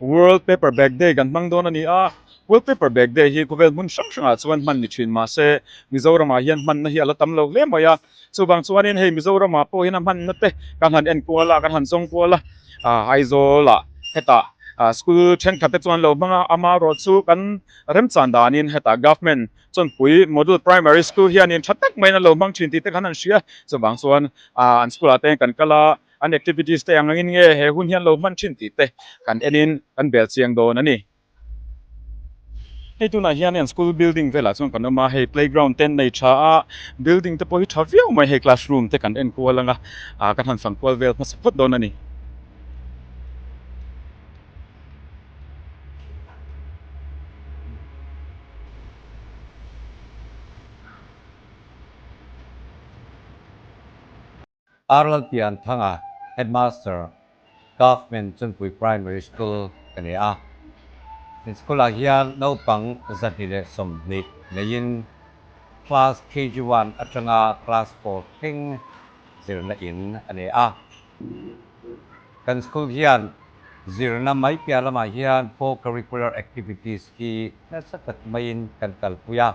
World Paperback Day kan hmang dawn a ni a, World Paperback Day hi khawvel hmun hrang hrangah chuan hman ni thin mahse Mizoramah hian hmanna hi a la tam lo hle mai a, chuvang chuanin hei Mizoramah pawhin a hmannate kan han en kual a, kan han zawng kual a, Aizawlah heta school thenkhatte chuan lo hmang a, ama erawh chu kan remchang danin heta government Chawnpui Model Primary School hianin tha tak maiin an lo hmang thin tih te kan han hria, chuvang chuan an school ah te kan kal a, An activities te ang angin nge he hun hian lo hman thin tih te kan enin kan bel chiang dawn a ni. Hei tunah hian heng school building velah chuan kan awm a, hei playground te an nei tha a, building te pawh hi tha viau mai, hei classroom te kan en kual ang a, ah ka han fan kual vel hmasa phawt dawn a ni. Ar Lalpian Thanga Headmaster Government Chunpui Primary School ka ni a, he school ah hian naupang zahnih leh sawmhnih neiin class KG one atanga class four thleng zirna in a ni a. Kan school hian zirna mai piah lamah hian four curricular activities hi nasa tak maiin kan kalpui a,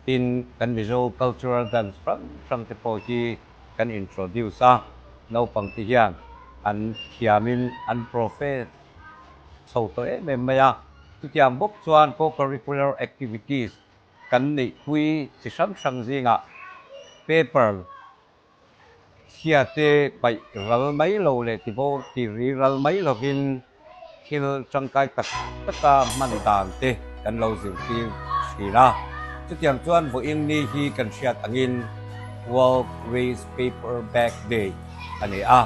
tin kan Mizo cultural dance hrang hrangte pawh hi, kan introduce a, naupang te hian an thiamin an profess chho tawh em em mai a, chutiang bawk chuan co-curricular activities kan neihpui chi hrang hrang zingah paper chhia te paih ral mai lo leh tibo tih rih ral mai lovin, thil tangkai tak taka hman dan te kan lo zirtir thin a, chutiang chuan Vawiin ni hi kan hriat angin World Waste Paper Bag Day a ni a,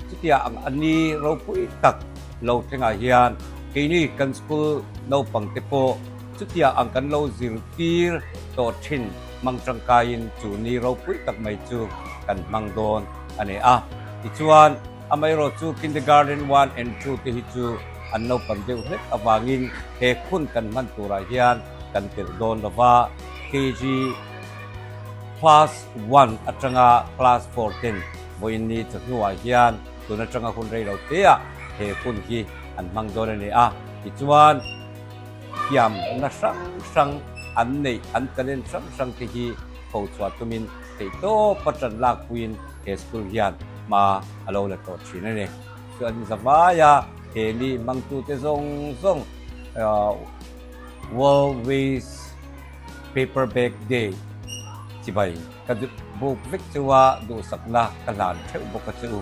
chutia ang a ni ropui tak lo thlengah hian keini kan school naupang te pawh chutia ang kan lo zirtir tawh thin hmang tangkaiin chu ni ropui tak mai chu kan hmang dawn a ni a tichuan Amaherawh chu Kindergarten one and two te hi chu an naupang deuh hlek avangin he khun kan hman turah hian kan tirh dawn lo va, KG class one atanga class four ten vawiinni chawhnuah hian tun atanga hun rei lo teah he hun hi an hmang dawn a ni a, tichuan hliamna hrang hrang an neih an talent hrang hrang te hi tho chhuah tumin. Theihtawp a ṭan lakpuiin he school hian hma a lo la tawh ṭhin a ni. Chuan zavai a he mi hmangtute zawng zawng World Waste Paper Bag Day chi bai ka duh buk vek chua duhsakna ka hlan theuh bawk a chu.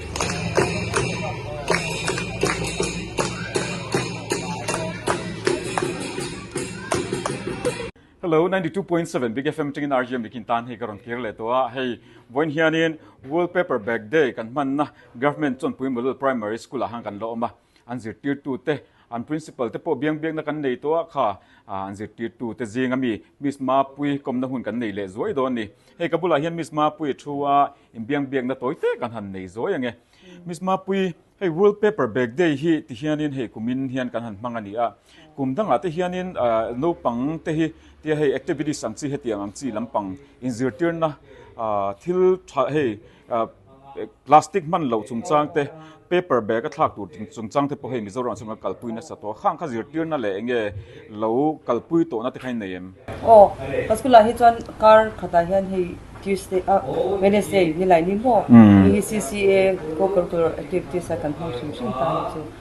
Hello, ninety two point seven big FM tingin RGM nikin tan hi ka rawn kir leh tawh a, hei vawiin hianin wallpaper bag day kan hmanna government chawnpuii model primary school ah han kan la awm a. An zirtirtute, an principal te pawh biang biakna kan nei tawh a kha. An zirtirtute zing a mi Miss Mapui kawmna hun kan nei leh zuai dawn ni. Hei ka bulah hian Miss Mapui thu a inbiang biakna tawi te kan han nei zuai ange. Miss Mapui, hei World Paper Bag Day hi ti hianin hei kumin hian kan han hmang a ni a. Kum dangah te hianin naupang te hi tia hei activities ang chi hetiang ang chi lampang inzirtirna thil tha hei, Plastic hman loh chungchang te, paper bag a thlak tur chungchang te pawh hei Mizoram chhunga kal pui nasa tawh a, khang kha zirtirna leh enge lo kal pui tawhna te kha in nei em? Aw, ka school ah hi chuan kar khat ah hian hei Tuesday ah Wednesday nilai ni maw, hei hi CCA, Co-curricular Activities, a kan hmang hrim hrim ta hi chu.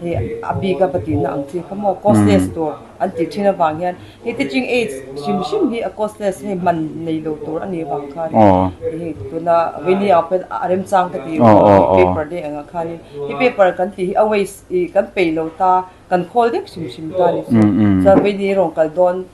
He a bik a va tihna ang chi kha maw? Causeless tur an tih thin avang hian he teaching aids hrim hrim hi a causeless hei man nei lo tur a nih avang khan in tuna Winnie Aung khan a remchang ka ti emaw he paper dei angah khan in he paper kan tih hi a waste i kan peih lo ta, kan khawl deuh hrim hrim ta a ni chu. Chuan Winnie i rawn kal dawn.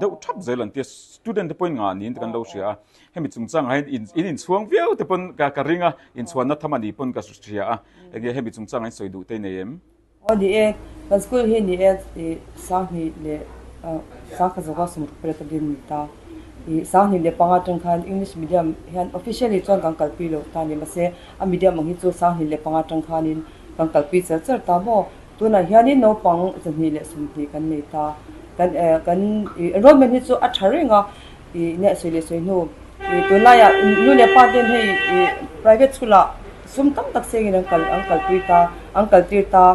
deuh thap zel an ti a, student te pawhin ngah niin te kan lo hria a, hemi chungchangah hian in in inchhuang viau te pawn ka ka ring a, inchhuanna tham a nih pawn ka hria a, enge hemi chungchangah hian sawi duh te nei em? Aw ni e, kan school hi ni e, i sanghnih leh sangkhat zawka sawm ka pariat a din ni ta, i sanghnih leh panga ṭan khan English medium hian officially chuan kan kalpi lo ta ni, mahse a medium ang hi chu sanghnih leh panga ṭan khanin kan kalpi chel chel ta maw? Tunah hianin naupang zahnih leh sawmhnih kan nei ta. Kan kan ih enrollment hi chu a tha reng a. Ih nia sawi leh sawi hnu ih tunlaia nu leh pa ten hei ih private school ah sum tam tak sengin an kal an kalpui ta, an kaltir ta.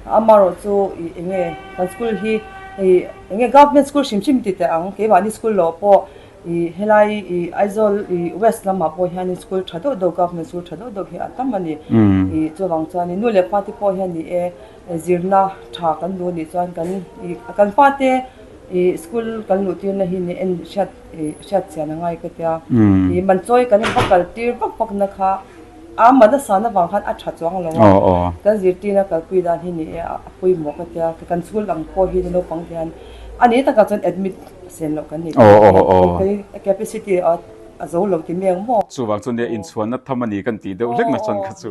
Amarawh chu ih enge kan school hi ih enge government school hrim hrim ti teh ang, keimahni school lawh pawh I helai i Aizawl i west lamah pawh hian in school tha deuh deuh government school tha deuh deuh hi a tam a ni i chuvang chuan in nu leh pa te pawh hian ni e zirna tha kan duh a nih chuan kan i kan pa te i school kan luh tirna hi ni en hriat i hriat chian a ngai ka tia i man chawi kan va kal tir vak vakna kha A mahna sana vang khan a tha chuang lo a, kan zirtirna kalpui dan hi ni e, a pawimawh ka tia, ka kan chhul ang pawh hi naupang hian a ni takah chuan admit a sen loh kan ni tawh ang e, khaw phei a capacity a zo lo ti mai ang maw? Chuvang chu nia, inchhuanna tham a ni kan tih deuh hlek nasa chuan kha chu.